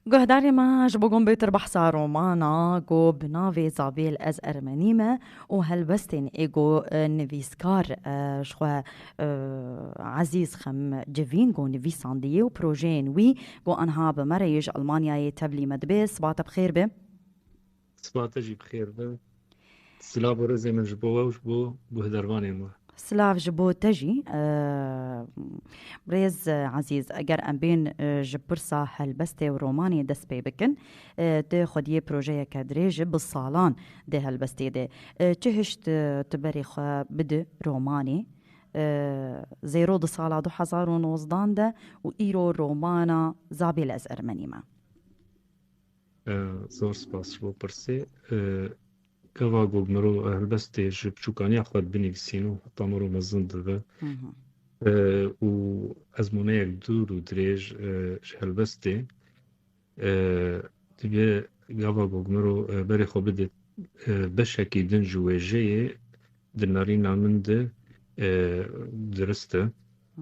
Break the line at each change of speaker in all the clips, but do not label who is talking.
Guhdarê me ji bo gom bêtir behsa romana ku bi navê Zavêl ez Ermenî me û helwestên ê ku nivîskar ji xwe Ezîz xem civîn ku nivîsandiye û projeyên wî ku anha bi me re yê ji Elmanyayê tevlî me dibe siba te bi xêr be. Sipa te jî bi xêr be. Silav û rêzê min ji bo we û ji bo guhdarvanên we. Silav ji bo te jî rêz ezîz eger em bên ji pirsa helbestê û romanê dest pê bikin tu xwediyê projeyeke dirêj bi salan dê helbestê de çi hişt tu berê xwe bidi romanê zêro di sala du hezar û nozdan de û îro romana Zabê lez ermenî me. Zor spas ji bo pirsê. Gava ku mirov helbestê ji biçûkaniya xwe binivîsîn û heta mirov mezin dibe û ezmûneyek dûr û dirêj ji helbestê divê gava ku mirov berê xwe bide beşekî din ji wêjeyê di nerîna min de dirist e.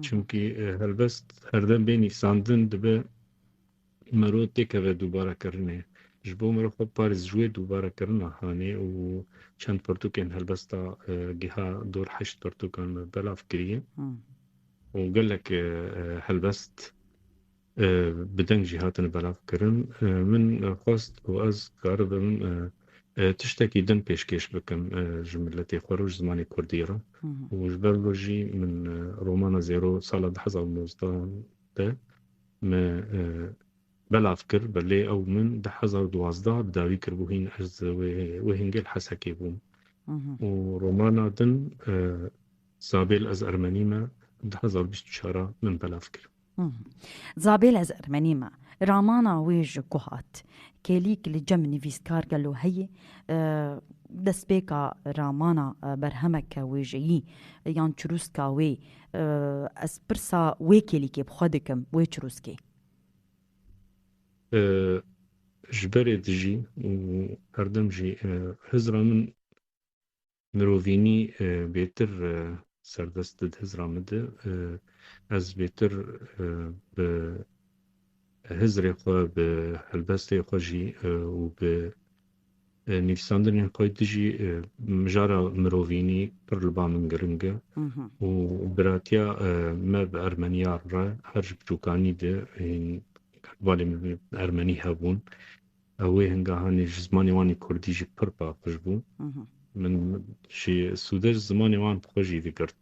Çimkî helbest herdem bê nîvsandin dibe Miro têkeve dûbarekirinê. Ji bo miro xwe parêz ji wê dûbarekirina hanê û çend pirtûkên helbesta giha dor heşt pirtûkan belav kiriye û gelek helbest bi deng jî hatine belavkirin. Min xwest ku ez karibim tiştekî din pêşkêş bikim ji miletê xwe re ji zimanê Kurdî re û ji ber vê jî min romana Zêro sala di hezar û nozdeh de Me belav kir be lê ew min di hezar û duwazdeh bi dawî kiribû hîn ez di wê hingê li Hesekê bûm û romana din Zabêl ez Ermenî me di hezar û bîst û çar a min belav kir. Zabêl ez Ermenî me ramana wê ji ku hat kêlîk li cem nivîskar gelo heye destpêka ramana berhemeke wêjeyî yan çirûska wê Ez pirsa wê kêlîkê bi xwe dikim, wê çirûskê. Ji berê dijî û herdem jî hizra min mirovînî bêtir serdest did hizra min de. Ez bêtir bi hizrê xwe, bi helbestê xwe jî û bi nivîsandinên xwe dijî mijara mirovînî pir li ba min giring e û biratiya me bi Ermeniyar re her ji biçûkanî de hîn balê min Ermenî hebûn ew ê hingahanê ji zimanê wan ê Kurdî jî pir paqij bû. Min jî Sûde ji zimanê wan xwe jî digirt.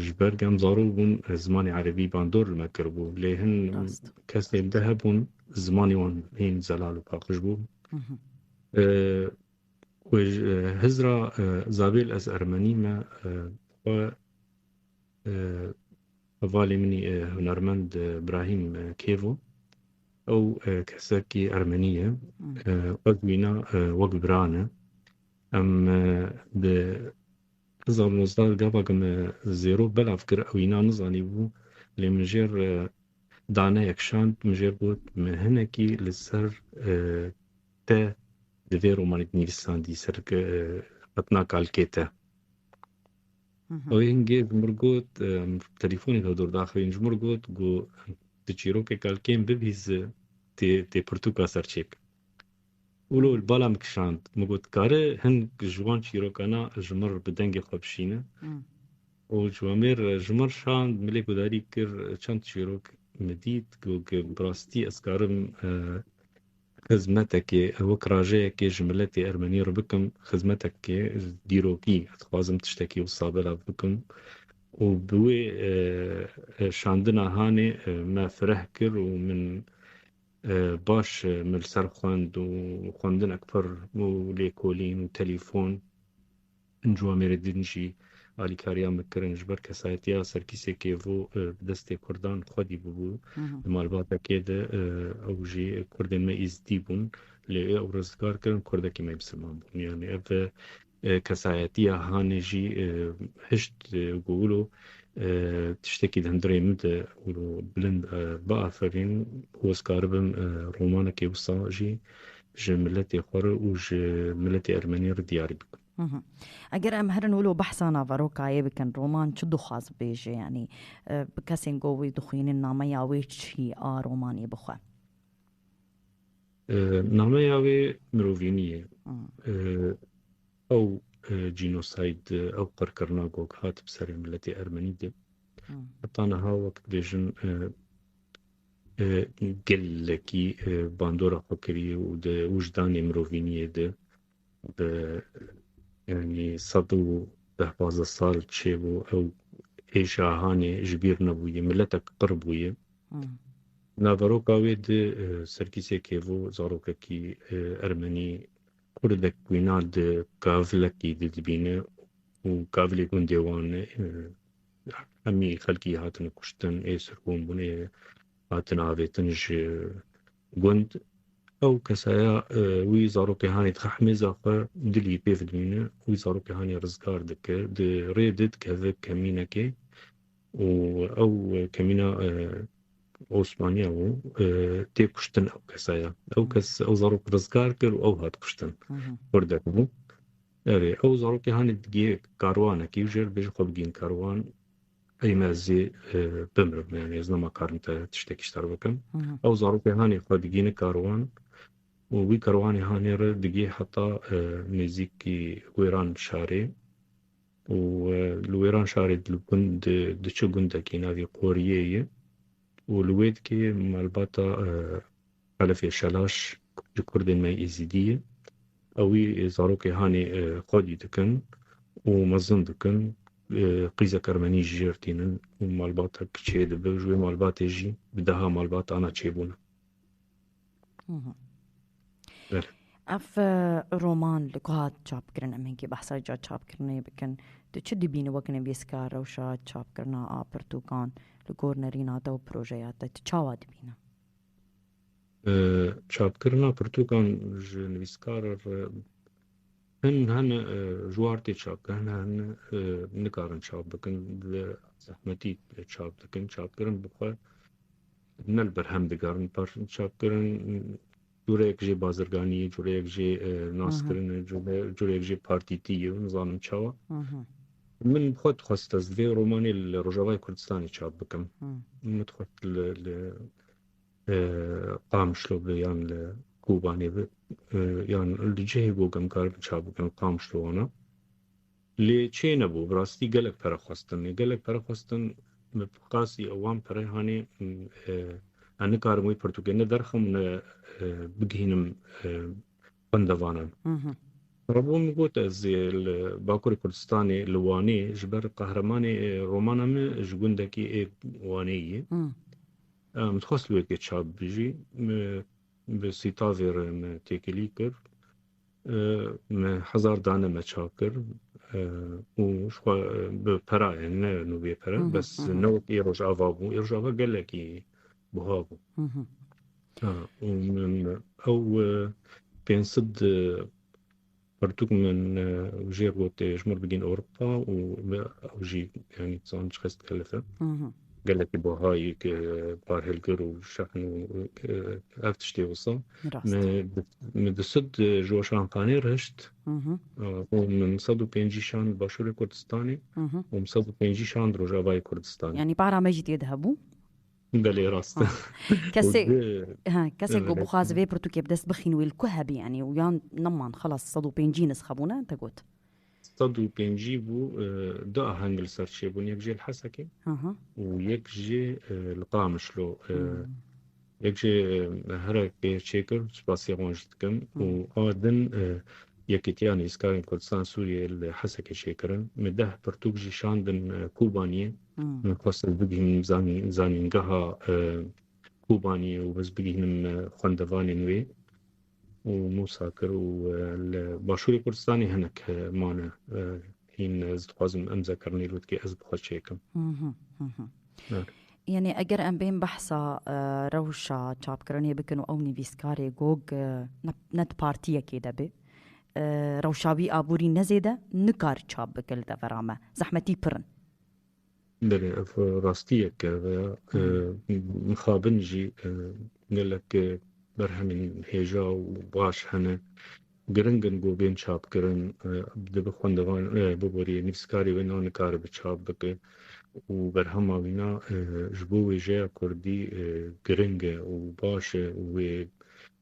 Ji ber ku em zarok bûn zimanê erebî bandor li me kiribû. Lê hin kesên di hebûn zimanê wan hîn zelal û paqij bû. Wê Hizra Zabêl ez ermenî me xwe Hevalê min î hunermend Brahîm Kêvo. Ew kesekî ermenî ye. Ez wîna wek bira ne. Em di hezar û nozdeh gava ku me zêro belav kir ew înan nizanîbû lê min jêr daneyek şand min jêr got me hinekî li ser te di vê romanê de nivîsandî ser xetina kalkê te. Ew ê hingê ji mir got, telefon ê xwe dûr daxivîn, ji mir got ku tu çîrokek al kêm bibî zi tê pirtûka ser çêbike. Wilo li bala min kişand, min got dikare hin ji wan çîrokana ji mir bi dengê xwe bişîne û ciwamêr ji mir şand, min lê gudarî kir çend çîrok min dît ku bi rastî ez karim Xizmetekê ez wek rajeyekê ji miletê ermenî re bikim, xizmetekê ez dîrokî ez dixwazim tiştekî wisa belav bikim û bi wê şandina hanê me fireh kir û min baş min li ser xwend û xwendinek pir bû lêkolîn û telîfon. Ncu Amêrê din jî alîkariyan bi kirin ji ber kesayetiya serkîsekê vû bi destê kurdan xwedî bûbû di malbatekê de ew jî kurdên me îzdî bûn lê ew rizgar kirin kurdekî me misilman bûn yanî ev kesayetiya hanê jî hişt ku wilo tiştekî di hundirê min de wilo bilind biaferîn û ez karibim romanekê wisa jî ji miletê xwe re û ji miletê ermenî re diyar bikin. Eger em herin wilo behsa naverokayê bikin, roman çi dixwaz bibêje yanî bi kesên ku wî dixwînin nameya wê çi a romanî bi xwe? Nameya wê mirovînî ye. Ew cînosayd ew qirkirina ku hat bi serê miletê ermenî de heta niha wek dibêjin Gelekî bandora xwe kiriye û di wijdanê mirovîniyê de bi yanî sed û deh pazdeh sal çêbû ew êşa hanê ji bîr nebûye miletek qir bûye. Naveroka wê di serkîsê kêvo zarokekî ermenî kurdek wîna di kavlekî didibîne û kavlê gundê wan e. Hemî xelkî hatine kuştin, ê sirgûn bûn, ê hatine avêtin ji gund. Ew kesaya wî zarokê hanê dixe himêza xwe dilî pê vidimîne, wî zarokê hanê rizgar dike, di rê de dikeve kemînekê û ew kemîna Osmaniya bû, tê kuştin ew kesaya. Ew kes ew zarok rizgar kir û ew hat kuştin. Kurdek bû. Ev ê. Ew zarokê hanê digê karwanekî û jêr bêjin xwe bigihîn karwan ey me zî bimirim yanî ez nema karim te tiştekî ji te re bikim. Ew zarokê hanê xwe digihîne karwan û wî karwanê hanê re digê heta nêzîkî wêran şarê û li wêran şarê diçe gundekî navê Qoriyê ye û li wê dikê malbata Xelifê Şelaş ji kurdên me Êzidî ye. Ew wî zarokê hanê xwedî dikin û mezin dikin. Qîzek ermenî ji jêr tînin û malbatek çê dibe. Ji wê malbatê jî bi deha malbat ana çê bûne. Bele. Ev roman li ku hat çapkirin em hinkî behsa ca çapkirinê bikin. Tu çi dibînî wek nivîska rewşa çapkirina a pirtûkan li gor nerîna te û projeya te? Tu çawa dibîne? Çapkirina pirtûkan ji nivîskar re hin hene ji war tê çapkirin hin nikarin çap bikin bi zehmetî çap dikin çapkirin bi xwe ne li berhem digerin parçeyên çapkirin Cureyek jî bazirganî ye, cureyek jî naskirin e, cureyek jî partîtî ye, nizanim çawa. Min xwe dixwest ez vê romanê li Rojavayê Kurdistanê çap bikim. Min dixwest li Qamişlo bi yan li Kobanê bi yan li cihê ku em kar çap bikin Qamişlo wana. Lê çê nebû, bi rastî gelek pere xwestin. Lê gelek pere xwestin, min bi qasî ew wan pere hanê, ez nikarim wê pirtûkê ne derxim û ne bigihînim xwendevanan. Rebo min got ez ê li Bakurê Kurdistanê li Wanê ji ber qehremanê romana min ji gundekî ê Wanê yê. Min dixwest li wê tê çap bijî. Min bi sîtavê re me têkilî kir. Me hezar dane me çak kir û xwe bi perayên ne nûbiyê pere bes ne wek ê rojava bû ê rojava gelekî buha bû û min ew pênc sid pertûk min jêr gotê ji mir bigîn Ewropa û ew jî yanî zanc xest kelife Gelekî buha yê ke parhilgir û şeqn û ev tiştê wisa. Min di sid ji we şanxanê re hişt û min sed û pêncî şand Başûrê Kurdistanê û min sed û pêncî şand Rojavayê Kurdistanê. Yanî para me jî tê de hebû. Belê rast e. Kesê kesê ku bixwaze vê pirtûkê bi dest bixîn wê li ku hebî yanî û yan neman xelas sed û pêncî nisxe bûne te got. Sed û pêncî bû du aheng li ser çêbûn yek jê li Hesekê û yek jê li Qamişlo. Yek jê herek pê çêkir spasê wan jî dikim û a din Yekîtiya Nivîskarên Kurdistan Sûriyê li Hesekê çêkirin. Me deh pirtûk jî şandin Kobaniyê. Min xwest ez bigihînim zanîngeha Kobaniyê û ez bigihînim xwendevanên wê. û Mûsa kir û li başûrê Kurdistanê hinek mane hîn ez dixwazim em zekirinê lûtkê ez bi xwe çêkim. Yanî eger em bên behsa e, rewşa çapkirinê bikin û ew nivîskarê gog e, ne di partiyekê de bê e, rewşa wî aborî nezêde nikar çap bike li devera me. Zehmetî pirin. Belê ev rastiyek e ve ya mixabin jî gelek berhemên hêja û baş hene. Giring in ku bên çapkirin. Dibe xwendevan biborî nivîskarê wê na nikare bi çap bike û berhema wî na ji bo wêjeya kurdî giring e û baş e û wê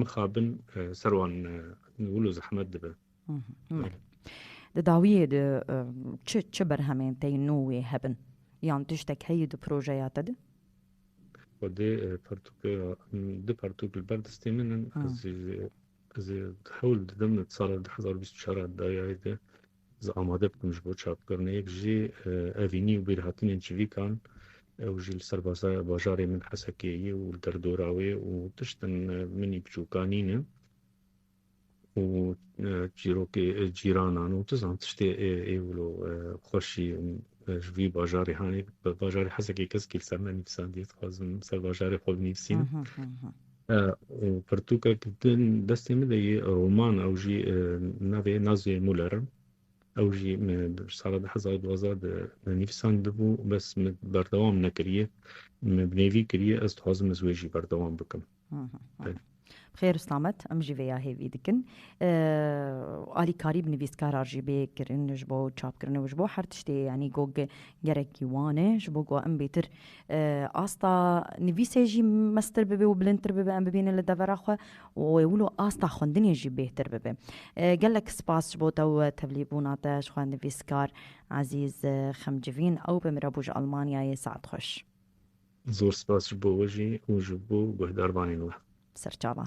Mixabin ser wan wil û zehmet dibe. Di dawiyê de çi çi berhemên tey nû wê hebin? Yan tiştek heye di projeya te de? Xwedê pertûkeya di pertûk li ber destê min in. Ez ê hewl didim di sala du hezar û bîst û çar dayayê de Ez amade bikim ji bo çapkirinê. Yek jî evînî û bîrhatinên çivîkan ew jî li ser bajarê min Hesekê yê û li derdora wê û tiştên minî biçûka nîne û çîrokê cîranan û tu zan tiştê ê wilo xweşî ji vî bajarê hanê bajarê Hesekê keskî li ser nenivîsandiye dixwazim ser bajarê xwe binivîsînim. Pirtûkek di destê min de yê roman ew jî navê ye Nazye Muller. Ew jî sala du hezar û duwazdeh de nivîsandibû bes min berdewam nekiriye. Min bi nêvî kiriye ez dixwazim ez wê jî berdewam bikim. Xêr Ustamet em jî vê ya hêvî dikin. Alîkarî bi nivîskara jî bê kirin ji bo çapkirinê û ji bo her tiştê yanî got gerekî wan e ji bo ku em bêtir asta nivîsê jî mestir bibe û bilindtir bibe em bibînin li devera xwe û wê wilo asta xwendinê jî bêhtir bibe. Gelek spas ji bo te û tevlîbûna te ji xwe nivîskar Ezîz Xemcivîn ew be min re bû ji Elmanyayê saet xweş. Zor spas ji bo we jî û ji bo guhdarvanên we. Serçavan.